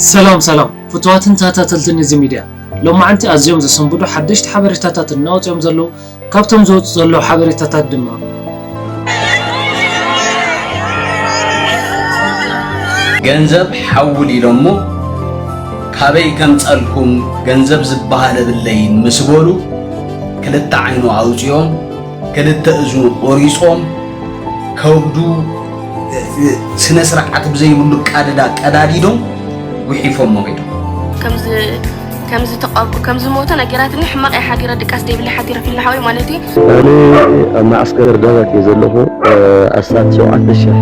ሰላም ሰላም ፍትዋትን ተኸታተልትን እዚ ሚድያ ሎማዓንቲ ኣዝዮም ዘሰንብዱ ሓደሽቲ ሓበሬታታት እናወፅኦም ዘለዉ ካብቶም ዝወፁ ዘለዉ ሓበሬታታት ድማ ገንዘብ ሓውል ኢሎሞ ካበይ ከምፀልኩም ገንዘብ ዝበሃል የብለይን ምስ በሉ ክልተ ዓይኑ ኣውፂኦም ክልተ እዝኑ ቆሪጾም ከብዱ ስነ ስርዓት ብዘይብሉ ቀደዳ ቀዳዲዶም ጉሒፎሞ ከይዶም ከምዚ ከምዚ ተቐብሩ ከምዚ ሞተ ነገራትኒ ሕማቕ እያ ሓዲረ ድቃስ ደይብለ ሓዲረ ፊላ ሓወይ ማለት እዩ ኣነ ኣብ መዓስከር ዳባት እየ ዘለኹ ኣስታት ሸውዓተ ሽሕ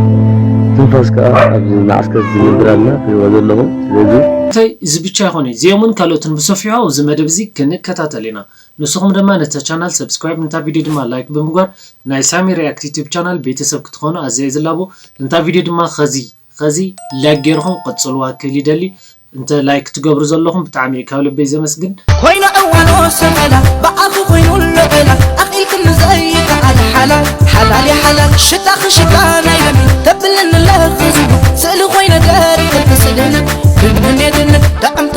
ትንፋስ ከዓ ኣብዚ መዓስከር ዝነብር ኣላ ትሪእዎ ዘለኹም ስለዚ እንታይ እዚ ብቻ ይኾን እዩ ዜሙን ካልኦትን ብሰፊሖ ኣብዚ መደብ እዚ ክንከታተል ኢና ንስኹም ደማ ነታ ቻናል ሰብስክራይብ ንታ ቪድዮ ድማ ላይክ ብምግባር ናይ ሳሚ ሪኣክት ዩቱብ ቻናል ቤተሰብ ክትኾኑ ኣዝየ ዝላቦ ንታ ቪድዮ ድማ ኸዚ ኸዚ ላይክ ጌርኹም ቐጽልዋ ክል ይደሊ እንተ ላይክ ትገብሩ ዘለኹም ብጣዕሚ እየ ካብ ልበይ ዘመስግን። ኮይነ እዋኖ ሰመላ ብኣኺ ኮይኑ ኣሎ ዕላ ኣኺልክኒ ዘይከኣል ሓላል ሓላል እየ ሓላል ሽታኺ ሽታ ናይ ለሚ ተብልኒ ለኽዝቡ ስእሊ ኮይነ ገሪፈልኪ ስእልነ ድንን የድንን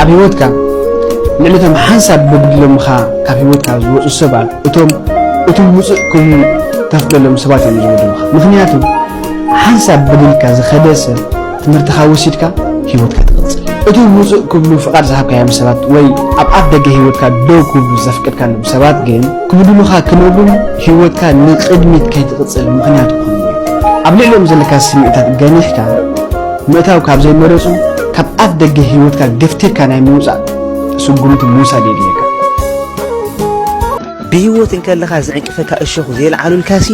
ኣብ ህይወትካ ልዕሊ እቶም ሓንሳብ በድሎምኻ ካብ ህይወትካ ዝወፁ ሰባት እቶም እቶም ውፅእ ኮይኑ ተፍደሎም ሰባት እዮም ዝወድሉኻ ምክንያቱ ሓንሳብ በድልካ ዝኸደ ሰብ ትምህርትኻ ወሲድካ ህይወትካ ትቕፅል እቶም ውፅእ ክብሉ ፍቓድ ዝሃብካዮም ሰባት ወይ ኣብ ኣፍ ደገ ህይወትካ ደው ክብሉ ዘፍቅድካሎም ሰባት ግን ክብድሉኻ ክነብሩን ህይወትካ ንቕድሚት ከይትቕፅል ምክንያት ክኾኑ እዮም ኣብ ልዕሊኦም ዘለካ ስምዒታት ገኒሕካ ምእታው ካብ ዘይመረጹ ካብ ኣፍ ደገ ህይወትካ ገፍቲርካ ናይ ምውጻእ ስጉምቲ ምውሳድ የድልየካ። ብህይወት እንከለኻ ዝዕንቅፈካ እሾኽ ዘየልዓሉልካሲ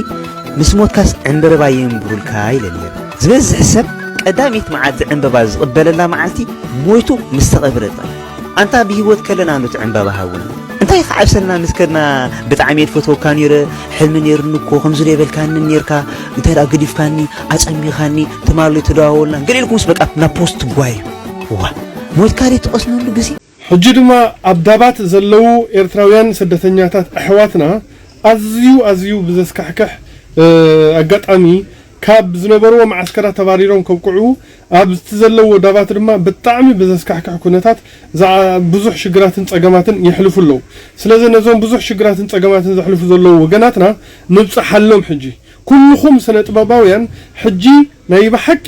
ምስ ሞትካስ ዕምበባ የንብሩልካ ኢለ ነይረ። ዝበዝሕ ሰብ ቀዳመይቲ መዓልቲ ዕምበባ ዝቕበለላ መዓልቲ ሞይቱ ምስ ተቐብረ ጥራይ። ኣንታ ብህይወት ከለና ኑቲ ዕምበባ ሃቡና እንታይ ክዓብሰልና ምስ ከድና ብጣዕሚ እየ ዝፈትወካ ነይረ ሕልሚ ነይሩኒ እኮ ከምዚ ዶ የበልካኒ ነይርካ እንታይ ደኣ ገዲፍካኒ ኣጸሚኻኒ ትማሊ ተደዋወልና ገለ ኢልኩምስ በቃ ናብ ፖስት ጓዩ እዋ ሞትካ ድዩ ትቐስነሉ ግዜ ሕጂ ድማ ኣብ ዳባት ዘለዉ ኤርትራውያን ስደተኛታት ኣሕዋትና ኣዝዩ ኣዝዩ ብዘስካሕክሕ ኣጋጣሚ ካብ ዝነበርዎ መዓስከራት ተባሪሮም ከብቅዑ ኣብ'ቲ ዘለዎ ዳባት ድማ ብጣዕሚ ብዘስካሕክሕ ኩነታት ብዙሕ ሽግራትን ጸገማትን የሕልፉ ኣለዉ። ስለዚ ነዞም ብዙሕ ሽግራትን ጸገማትን ዘሕልፉ ዘለዉ ወገናትና ንብጽሓሎም ሕጂ። ኩሉኹም ስነ ጥበባውያን ሕጂ ናይ ብሓቂ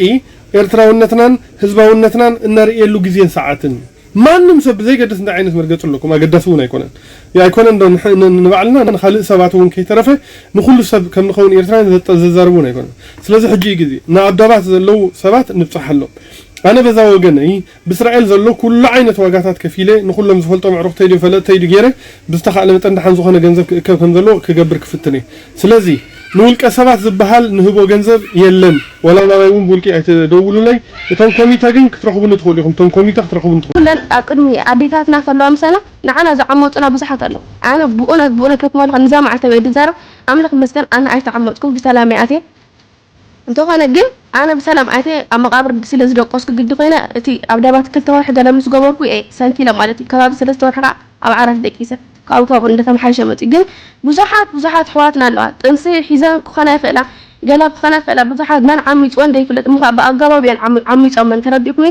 ኤርትራውነትናን ህዝባውነትናን እነርእየሉ ግዜን ሰዓትን እዩ። ማንም ሰብ ብዘይገድስ እንታይ ዓይነት መርገጺ ኣለኩም ኣገዳሲ እውን ኣይኮነን ኣይኮነን ዶ ንባዕልና ንኻልእ ሰባት እውን ከይተረፈ ንኹሉ ሰብ ከም ንኸውን ኤርትራውያን ዘዛርብ እውን ኣይኮነን ስለዚ ሕጂ እዩ ግዜ ንኣዳባት ዘለዉ ሰባት ንብጽሓሎም ኣነ በዛ ወገነይ ብስራኤል ዘሎ ኩሉ ዓይነት ዋጋታት ከፊለ ንኹሎም ዝፈልጦም ኣዕሩኽተይ ድዩ ፈለጥተይ ድዩ ጌረ ብዝተኻእለ መጠን ደሓን ዝኾነ ገንዘብ ክእከብ ከም ዘለዎ ክገብር ክፍትን እየ ስለዚ ንውልቀ ሰባት ዝብሃል ንህቦ ገንዘብ የለን ዋላ ናባይ ውን ብውልቂ ኣይትደውሉለይ እቶም ኮሚተ ግን ክትረኽቡኒ ትኽእሉ ኢኹም እቶም ኮሚተ ክትረኽቡኒ ትኽእሉ ኩለን ኣብ ቅድሚ ኣዴታትና ከለዋ ምሳና ንዓና ዝዓመጹና ብዙሓት ኣለዉ ኣነ ብኡነት ብኡነት ከትማልኹ ንዛ መዓልቲ እየ ድዛረብ ኣምላኽ ይመስገን ኣነ ኣይተዓመጽኩን ብሰላም እየ ኣትየ እንተኾነ ግን ኣነ ብሰላም ኣትየ ኣብ መቓብር ስለ ዝደቆስኩ ግዲ ኮይነ እቲ ኣብ ዳባት ክልተ ወርሒ ገለ ምስ ገበርኩ እየ ሰንኪለ ማለት እዩ ከባቢ ሰለስተ ወርሒ ከኣ ኣብ ዓራት ደቂሰ ካብኡ ካብኡ እንደ ተመሓይሸ መጺኡ ግን ብዙሓት ብዙሓት ኣሕዋትና ኣለዋ ጥንሲ ሒዘን ክኾና ይኽእላ ገለ ክኾና ይኽእላ ብዙሓት መን ዓሚጽወን ዘይፍለጥ እሞ ከኣ ብኣጋባቡ እየን ዓሚጾመን ተረዲእኩምኒ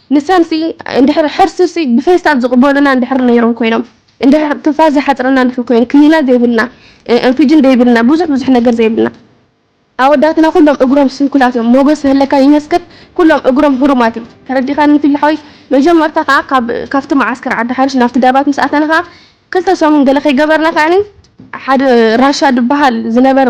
ንሰንሲ እንድሕር ሕርስርሲ ብፌስታል ዝቅበሉና እንድሕር ነይሮም ኮይኖም እንድሕር ትንፋስ ዝሓጽረና እንድሕር ኮይኑ ክኒና ዘይብልና እንፍጅን ደይብልና ብዙሕ ብዙሕ ነገር ዘይብልና ኣወዳትና ኩሎም እግሮም ስንኩላት እዮም ሞጎስ ይሃለካ ይመስክር ኩሎም እግሮም ሁሩማት እዮም ተረዲካኒ ፊሊ ሓወይ መጀመርታ ከኣ ካብ ካብቲ መዓስከር ዓዲ ሓርሽ ናብቲ ዳባት ምስ ኣተና ከኣ ክልተ ሰሙን ገለ ከይገበርና ከኣኒ ሓደ ራሻ ድበሃል ዝነበረ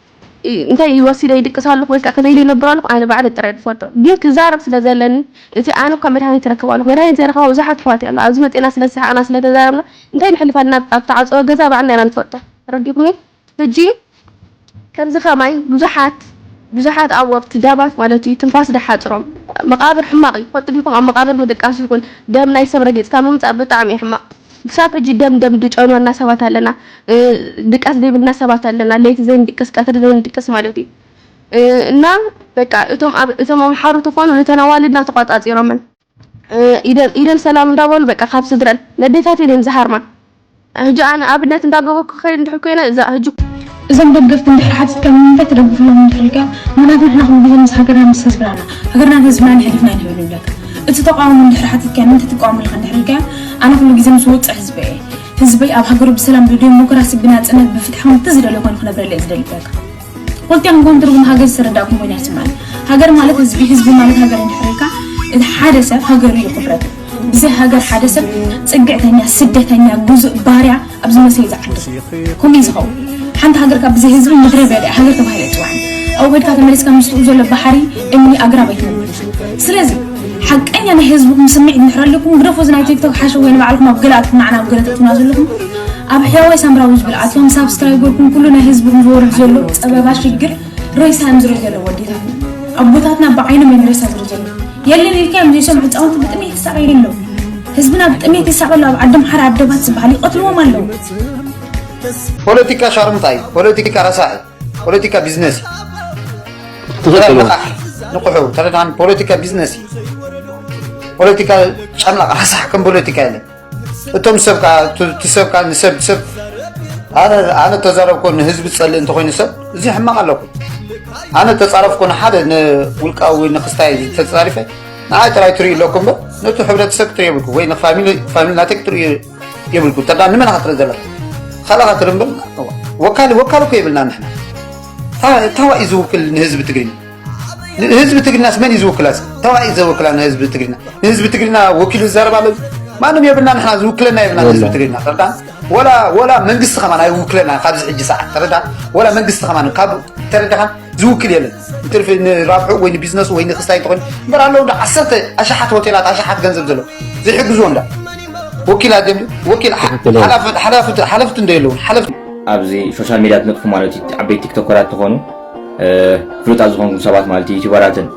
እንታይ ወሲደ ይድቅስ ኣለኹ ወይ ከኣ ከመይ ኢለ ይነብር ኣለኹ ኣነ ባዕለይ ጥራይ እየ ዝፈልጦ። ግን ክዛረብ ስለ ዘለኒ እቲ ኣነ እኳ መድሃኒት ይረክብ ኣለኹ። መድሃኒት ዘይረኸባ ብዙሓት ኣሕዋት ይኣልዋ። ኣብዚ መጺእና ስለ ዝሰሓቕና ስለ ተዛረብና እንታይ ነሕልፍ ኣለና ኣብ ዝተዓጸወ ገዛ ባዕልና ኢና ንፈልጦ። ተረዲእኩምኒ። ሕጂ ከምዚ ከማይ ብዙሓት ብዙሓት ኣብ ኣብቲ ዳባት ማለት እዩ ትንፋስ ድሓጽሮም መቓብር ሕማቕ እዩ ትፈልጡ ዲኹም ኣብ መቓብር ምድቃስ ይኹን ደም ናይ ሰብ ረጊጽካ ምምጻእ ብጣዕሚ እዩ ሕማቕ። ክሳብ ሕጂ ደም ደም ድጨኑና ሰባት ኣለና ድቃስ ዘይብልና ሰባት ኣለና ለይቲ ዘይንድቅስ ቀትሪ ዘይንድቅስ ማለት እዩ እና በቃ እቶም እቶም ኣምሓሩ ተኾኑ ነተን ኣዋልድና ተቋጻጺሮመን ኢደን ኢደን ሰላም እንዳበሉ በቃ ካብ ስድረን ነዴታተን እየን ዝሃርማ ሕጂ ኣነ ኣብነት እንዳገበርኩ ክኸይድ እንድሕር ኮይነ እዛ ሕጂ እዞም ደገፍቲ እንድሕር ሓቲትካ ንምንታይ ትደግፍሎም እንድሕር ኢልካ ምኽንያቱ ንሕና ኩሉ ግዜ ምስ ሃገርናን ምስ ህዝብናን ኢና ሃገርናን ህዝብናን የሕሊፍና ኣይንህብን ይብለካ እቲ ተቃውሞ እንድሕር ሓቲትካዮ ንምንታይ ትቃወም ኢልካ እንድሕር ኢልካዮ ኣነ ኩሉ ግዜ ምስ ውጹዕ ህዝበይ እየ ህዝበይ ኣብ ሃገሩ ብሰላም ብደሞክራሲ ብናጽነት ብፍትሒ ከምቲ ዝደልዮ ኮይኑ ክነብረለይ እየ ዝደሊ ይብለካ ክልቲኣንኩም ትርጉም ሃገር ዝተረዳእኩም ኮይኑ ኣይስምዓኒ ሃገር ማለት ህዝቢ ህዝቢ ማለት ሃገር እንድሕር ኢልካ እቲ ሓደ ሰብ ሃገሩ የኽብረሉ ብዘይ ሃገር ሓደ ሰብ ጽግዕተኛ ስደተኛ ጉዙእ ባርያ ኣብ ዝመሰይ ዝዓዱ ከምኡ እዩ ዝኸውን ሓንቲ ሃገርካ ብዘይ ህዝቢ ምድረ በዳ እያ ሃገር ተባሂለ ትጽዋዕ ኣብኡ ከድካ ተመሊስካ ምስትኡ ዘሎ ባሕሪ እምኒ ኣግራብ ኣይትምልሱ ስለዚ ሓቀኛ ናይ ህዝብኩም ስምዒት እንድሕር ኣለኩም ግደፎ ናይ ቲክቶክ ሓሸ ወይ ንባዕልኩም ኣብ ገለ ኣትኩም ንዓና ኣብ ገለ ተእትውና ዘለኹም ኣብ ሕያዋይ ሳምራዊ ዝብል ኣትዮም ሳብስክራይብ ገርኩም ኩሉ ናይ ህዝብኩም ዝወርድ ዘሎ ጸበባ ሽግር ሬሳ እዮም ዝርኢ ዘሎ ወዲታት ኣቦታትና ብዓይኖም እዮም ሬሳ ዝርኢ ዘሎ የለን ኢልካዮም ዘይሰምዑ ህፃውንቲ ብጥሜት ይሳቐዩ ኣለዉ ህዝብና ብጥሜት ይሳቐ ኣሎ ኣብ ዓዲ ምሓራ ኣብ ደባት ዝበሃል ይቐትልዎም ኣለዉ ፖለቲካ ሻርሙጣ እዩ ፖለቲካ ረሳዕ እዩ ፖለቲካ ቢዝነስ እዩ ትግራይ ትኽክል ንቓሕ ንቑሑ ተረዳን ፖለቲካ ቢዝነስ እዩ ፖለቲካ ጨምላቕ ረሳሕ ከም ፖለቲካ የለን እቶም ሰብ ከዓ እቲ ሰብ ከዓ ንሰብ ሰብ ኣነ ኣነ ተዛረብኮ ንህዝቢ ዝፀልእ እንተኮይኑ ሰብ እዚ ሕማቅ ኣለኩ ኣነ ተፃረፍኩ ንሓደ ንውልቃዊ ንክስታይ ተፃሪፈ ንዓይ ጥራይ ትርኢ ኣለኩ እምበር ነቲ ሕብረተሰብ ክትርኢ የብልኩ ወይ ንፋሚሊ ናተይ ክትርኢ የብልኩ እንተ ንመን ክትርኢ ዘለካ ካልኣ ክትርኢ እምበር ወካሊ ወካሊ እኮ የብልና ንሕና ታዋእ እዩ ዝውክል ንህዝቢ ትግርኛ ንህዝቢ ትግርኛስ መን እዩ ዝውክላ? ተባዕ እዩ ዘወክላ ንህዝቢ ትግርኛ። ንህዝቢ ትግርኛ ወኪሉ ዝዛረብ ኣሎ ማንም የብልና። ንሕና ዝውክለና የብልና ንህዝቢ ትግርኛ ተረዳ። ወላ ወላ መንግስቲ ከማን ኣይውክለና ካብዚ ሕጂ ሰዓት ተረዳ። ወላ መንግስቲ ከማን ካብ ተረዳኻ ዝውክል የለን። ንትርፊ ንራብሑ ወይ ንቢዝነሱ ወይ ንክስታይ ትኾን እምበር ኣለዉ እንዳ ዓሰርተ ኣሽሓት ሆቴላት ኣሽሓት ገንዘብ ዘሎ ዘይሕግዝዎ እንዳ ወኪል ኣገም ወኪል ሓላፍቲ እንደ የለውን ሓለፍቲ ኣብዚ ሶሻል ሚዲያ ትነጥፉ ማለት እዩ ዓበይቲ ቲክቶከራት ትኾኑ ፍሉጣት ዝኾንኩም ሰባት ማለት እዩ ዩቲዩበራትን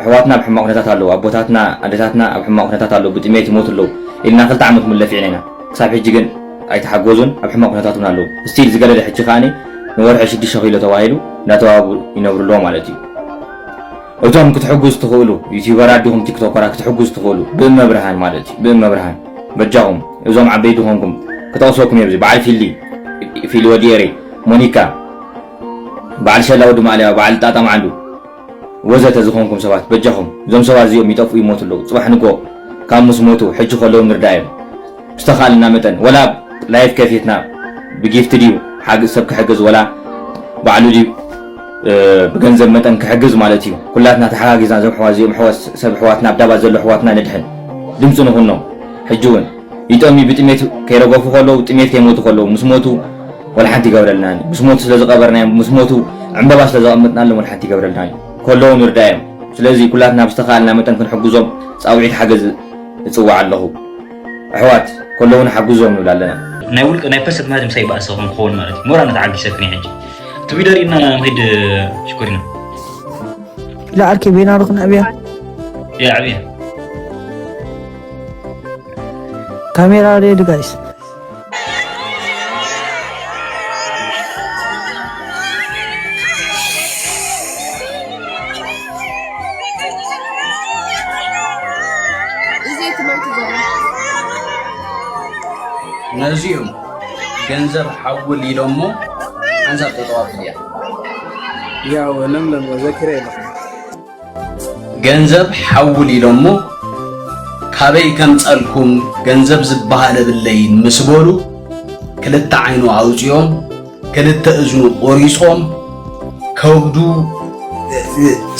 ኣሕዋትና ኣብ ሕማቕ ኩነታት ኣለዉ ኣቦታትና ኣደታትና ኣብ ሕማቕ ኩነታት ኣለዉ ብጥሜት ይሞቱ ኣለዉ ኢልና ክልተ ዓመት ሙሉ ለፊዕና ኢና ክሳብ ሕጂ ግን ኣይተሓጎዙን ኣብ ሕማቕ ኩነታት እውን ኣለዉ ስቲል ዝገለለ ሕጂ ከዓኒ ንወርሒ ሽዱሽተ ኪሎ ተባሂሉ እናተዋቡ ይነብሩ ኣለዎ ማለት እዩ እቶም ክትሕጉዝ ትኽእሉ ዩቲዩበር ኣዲኹም ቲክቶከራ ክትሕጉዝ ትኽእሉ ብእመብርሃን ማለት እዩ ብእመብርሃን በጃኹም እዞም ዓበይቲ ኮንኩም ክጠቕሰኩም እየ በዓል ፊሊ ፊሊ ወዲ ኤሪ ሞኒካ በዓል ሸላ ወዲ ማእለያ በዓል ጣጣ መዓንዱ ወዘተ ዝኾንኩም ሰባት በጃኹም እዞም ሰባት እዚኦም ይጠፍኡ ይሞቱ ኣለዉ ጽባሕ ንግሆ ካብ ምስ ሞቱ ሕጂ ከለዉ ንርዳዮም ብዝተኻእለና መጠን ወላ ኣብ ላይፍ ከፊትና ብጊፍቲ ድዩ ሓግዝ ሰብ ክሕግዝ ወላ ባዕሉ ድዩ ብገንዘብ መጠን ክሕግዝ ማለት እዩ ኩላትና ተሓጋጊዝና እዞም ኣሕዋት እዚኦም ሰብ ኣሕዋትና ኣብ ዳባት ዘሎ ኣሕዋትና ነድሕን ድምፂ ንኹኖም ሕጂ እውን ኢጦም ዩ ብጥሜት ከይረገፉ ከለዉ ብጥሜት ከይሞቱ ከለዉ ምስ ሞቱ ወላ ሓንቲ ይገብረልናን ዩ ምስ ሞቱ ስለ ዝቀበርናዮም ምስ ሞቱ ዕምበባ ስለ ዘቀመጥናሎም ወላ ሓንቲ ይገብረልናን ዩ ከለዉ ንርዳዮም ስለዚ ኩላትና ብዝተካኣልና መጠን ክንሕግዞም ጻዊዒት ሓገዝ እጽውዕ ኣለኩ ኣሕዋት ከለዉ ንሓግዞም ንብል ኣለና። ናይ ውልቀ ናይ ፐርሰት ማለት ምሳይ ባእሰ ከም ክኸውን ማለት እዩ ሞራል ተዓጊሰክኒ ሕጂ እቲ ቪድዮ ሪእና ንኸይድ ሽኮሪና ኢላ ኣርኪ ቤና ሩክን ዕብያ እያ ዕብያ ካሜራ ሬድ ጋይስ ነዚኦም ገንዘብ ሓውል ኢሎሞ ሓንሳብ ተጠዋፍ እያ ያው ለምለም ዘኪረ የለኹም ገንዘብ ሓውል ኢሎሞ ካበይ ከምጸልኩም ገንዘብ ዝበሃል እብለይን ምስ በሉ ክልተ ዓይኑ ኣውጺኦም ክልተ እዝኑ ቆሪጾም ከብዱ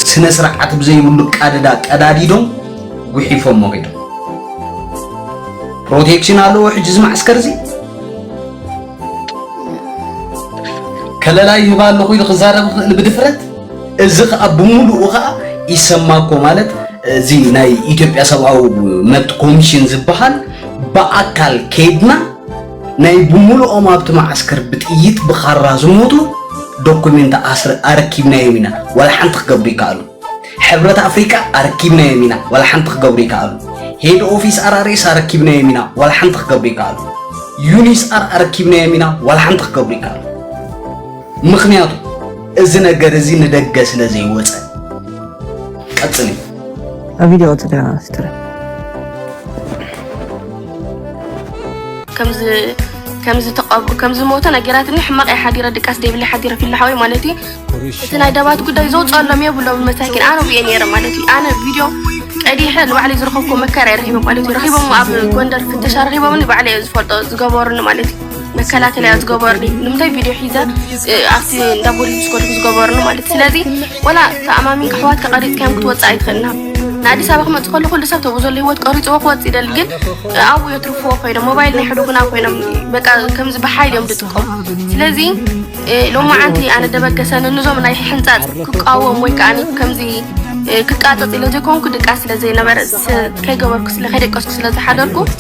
ስነ ስርዓት ብዘይብሉ ቀደዳ ቀዳዲዶም ጉሒፎሞ ከይዶም ፕሮቴክሽን ኣለዎ ሕጂ እዚ ማዕስከር እዚ ከለላ ይህባ ኣለኹ ኢሉ ክዛረብ ይኽእል ብድፍረት እዚ ከኣ ብምሉኡ ከኣ ኢሰማኮ ማለት እዚ ናይ ኢትዮጵያ ሰብኣዊ መብት ኮሚሽን ዝበሃል ብኣካል ከይድና ናይ ብምሉኦም ኣብቲ መዓስከር ብጥይት ብኻራ ዝሞቱ ዶኩሜንት ኣረኪብናዮም ኢና ዋላ ሓንቲ ክገብሩ ይከኣሉ ሕብረት ኣፍሪቃ ኣረኪብናዮም ኢና ዋላ ሓንቲ ክገብሩ ይከኣሉ ሄድ ኦፊስ ኣራሬስ ኣረኪብናዮም ኢና ዋላ ሓንቲ ክገብሩ ይከኣሉ ዩኒስ ኣር ኣረኪብናዮም ኢና ዋላ ሓንቲ ክገብሩ ይከኣሉ ምክንያቱ እዚ ነገር እዚ ንደገ ስለ ዘይወፀ ቀፅል እዩ ኣብ ቪድዮ ወፅዳ ስትረ ከምዚ ከምዚ ተቐብ ከምዚ ሞተ ነገራትኒ ሕማቕ እየ ሓዲረ ድቃስ ደይብለ ሓዲረ ፊሉ ሓወይ ማለት እዩ እቲ ናይ ደባት ጉዳይ ዘውፅኣሎም የብሎም መሳኪን ኣነ ብየ ነይረ ማለት እዩ ኣነ ቪድዮ ቀዲሐ ንባዕለይ ዝረኸብኩ መከራ ይረኪቦም ማለት እዩ ረኪቦም ኣብ ጎንደር ፍተሻ ረኪቦምኒ ባዕለይ እየ ዝፈልጦ ዝገበሩኒ ማለት እዩ መከላከልያ ዝገበርኒ ንምንታይ ቪድዮ ሒዘ ኣብቲ እንዳ ቦሊስ ዝኮዱ ዝገበርኒ ማለት ስለዚ ወላ ተኣማሚን ኣሕዋት ከቐሪፅካዮም ክትወፅእ ኣይትኽእልና ንኣዲስ ኣበባ ክመፅእ ከሎ ኩሉ ሰብ ተብኡ ዘሎ ሂወት ቀሪፅዎ ክወፅ ይደል ግን ኣብኡ የትርፍዎ ኮይኖም ሞባይል ናይ ሕዱጉና ኮይኖም በቃ ከምዚ ብሓይል እዮም ዝጥቀሙ ስለዚ ሎማ ዓንቲ ኣነ ደበገሰን ንዞም ናይ ሕንፃፅ ክቃወም ወይ ከዓ ከምዚ ክቃፀፅ ኢለ ዘይኮንኩ ድቃ ስለ ዘይነበረ ከይገበርኩ ስለ ከይደቀስኩ ስለ ዝሓደርኩ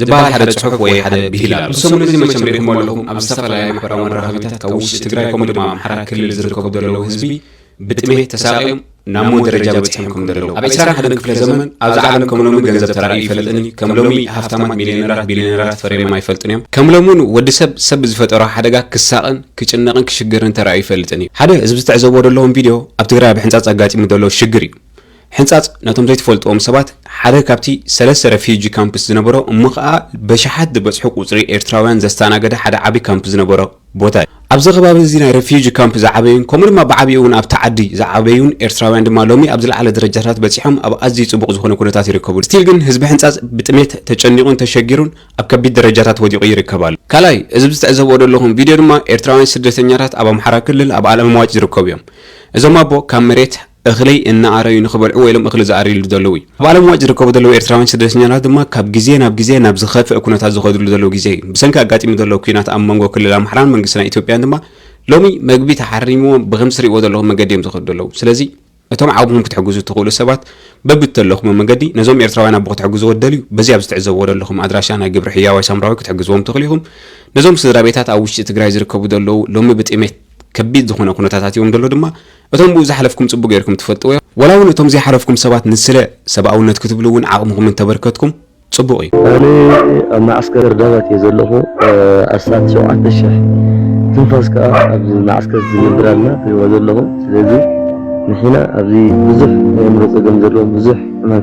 ዝበሃል ሓደ ጽሑፍ ወይ ሓደ ብሂል ኣሎ። እዚ ሰሙን እዚ መቸም ርኢኹሞ ኣለኹም፣ ኣብ ዝተፈላለያ ማሕበራዊ መራኸቢታት ካብ ውሽጢ ትግራይ ከምኡ ድማ ኣምሓራ ክልል ዝርከቡ ዘለዉ ህዝቢ ብጥሜት ተሳቕዮም ናብ ሞት ደረጃ በጺሖም ከም ዘለዉ። ኣብ ዕስራን ሓደን ክፍለ ዘመን ኣብዛ ዓለም ከም ሎሚ ገንዘብ ተራእዩ ይፈልጥን እዩ፣ ከም ሎሚ ሃፍታማት ሚልዮነራት ቢልዮነራት ፈርዮም ኣይፈልጡን እዮም፣ ከም ሎሚ እውን ወዲ ሰብ ሰብ ብዝፈጠሮ ሓደጋ ክሳቕን ክጭነቕን ክሽገርን ተራእዩ ኣይፈልጥን እዩ። ሓደ እዚ ዝትዕዘብዎ ዘለኹም ቪድዮ ኣብ ትግራይ ኣብ ሕንጻጽ ኣጋጢሙ ዘሎ ሽግር እዩ። ሕንጻጽ ነቶም ዘይትፈልጥዎም ሰባት፣ ሓደ ካብቲ ሰለስተ ረፊዩጂ ካምፕስ ዝነበሮ እሞ ኸኣ በሽሓት ዝበጽሑ ቁጽሪ ኤርትራውያን ዘስተኣናገደ ሓደ ዓቢ ካምፕ ዝነበሮ ቦታ እዩ። ኣብዚ ከባቢ እዚ ናይ ረፊዩጂ ካምፕ ዝዓበዩን ከምኡ ድማ ብዓቢኡ እውን ኣብታ ዓዲ ዝዓበዩን ኤርትራውያን ድማ ሎሚ ኣብ ዝለዓለ ደረጃታት በጺሖም ኣብ ኣዝዩ ጽቡቕ ዝኾነ ኩነታት ይርከቡ። ስቲል ግን ህዝቢ ሕንጻጽ ብጥሜት ተጨኒቑን ተሸጊሩን ኣብ ከቢድ ደረጃታት ወዲቑ ይርከብ ኣሎ። ካልኣይ እዚ ኣብዚ ትዕዘብዎ ዘለኹም ቪድዮ ድማ ኤርትራውያን ስደተኛታት ኣብ ኣምሓራ ክልል ኣብ ኣለምዋጭ ዝርከቡ እዮም። እዞም ኣቦ ካብ መሬት እኽለይ እናኣረዩ ንኽበልዑ ወይ ኢሎም እኽሊ ዝኣርዩሉ ዘለዉ እዩ። ኣብ ዓለም ዋጭ ዝርከቡ ዘለዉ ኤርትራውያን ስደተኛታት ድማ ካብ ግዜ ናብ ግዜ ናብ ዝኸፍእ ኩነታት ዝኸድሉ ዘለዉ ግዜ እዩ። ብሰንኪ ኣጋጢሙ ዘሎ ኲናት ኣብ መንጎ ክልል ኣምሓራን መንግስቲ ናይ ኢትዮጵያን ድማ ሎሚ መግቢ ተሓሪምዎም ብኸምዚ ትርእይዎ ዘለኹም መገዲ እዮም ዝኸዱ ዘለዉ። ስለዚ እቶም ዓቕምኹም ክትሕግዙ እትኽእሉ ሰባት በቢ እተለኹሞ መገዲ ነዞም ኤርትራውያን ኣቦ ክትሕግዝዎ እትደልዩ በዚ ኣብዚ ትዕዘብዎ ዘለኹም ኣድራሻ ናይ ግብሪ ሕያዋይ ሳምራዊ ክትሕግዝዎም ትኽእሉ ኢኹም። ነዞም ስድራቤታት ኣብ ውሽጢ ትግራይ ዝርከቡ ዘለዉ ሎሚ ብጥሜት ከቢድ ዝኾነ ኩነታት ኣትይዎም ዘሎ ድማ እቶም ብኡ ዝሓለፍኩም ጽቡቅ ጌርኩም ትፈልጥዎ ኢኹም ወላ ውን እቶም ዘይሓለፍኩም ሰባት ንስለ ሰብኣውነት ክትብሉ ውን ዓቅምኹም እንተበርከትኩም ጽቡቅ ኢዩ። ኣነ ኣብ መዓስከር ዳባት እየ ዘለኹ ኣስታት ሸውዓተ ሽሕ ትንፋስ ከኣ ኣብዚ መዓስከር ዝነብር ኣልና ትሪእዎ ዘለኹም ስለዚ ንሒና ኣብዚ ብዙሕ ናይ ኣእምሮ ጸገም ዘለዎም ብዙሕ ሕማም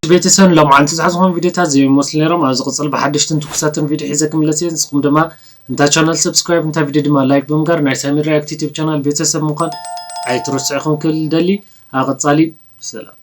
ምስ ቤተሰብ ሎምዓንቲ ዝሓዝክዎም ቪድዮታት እዚኦም ይመስሉ ነይሮም ኣብ ዝቅፅል ብሓደሽትን ትኩሳትን ቪድዮ ሒዘ ክምለስ እየ ንስኩም ድማ ንታ ቻናል ሰብስክራይብ ንታ ቪድዮ ድማ ላይክ ብምግባር ናይ ሳሚ ሪኣክት ዩቱብ ቻናል ቤተሰብ ምኳን ኣይትረስዑ ክም ክብል ይደሊ ኣብ ቀፃሊ ብሰላም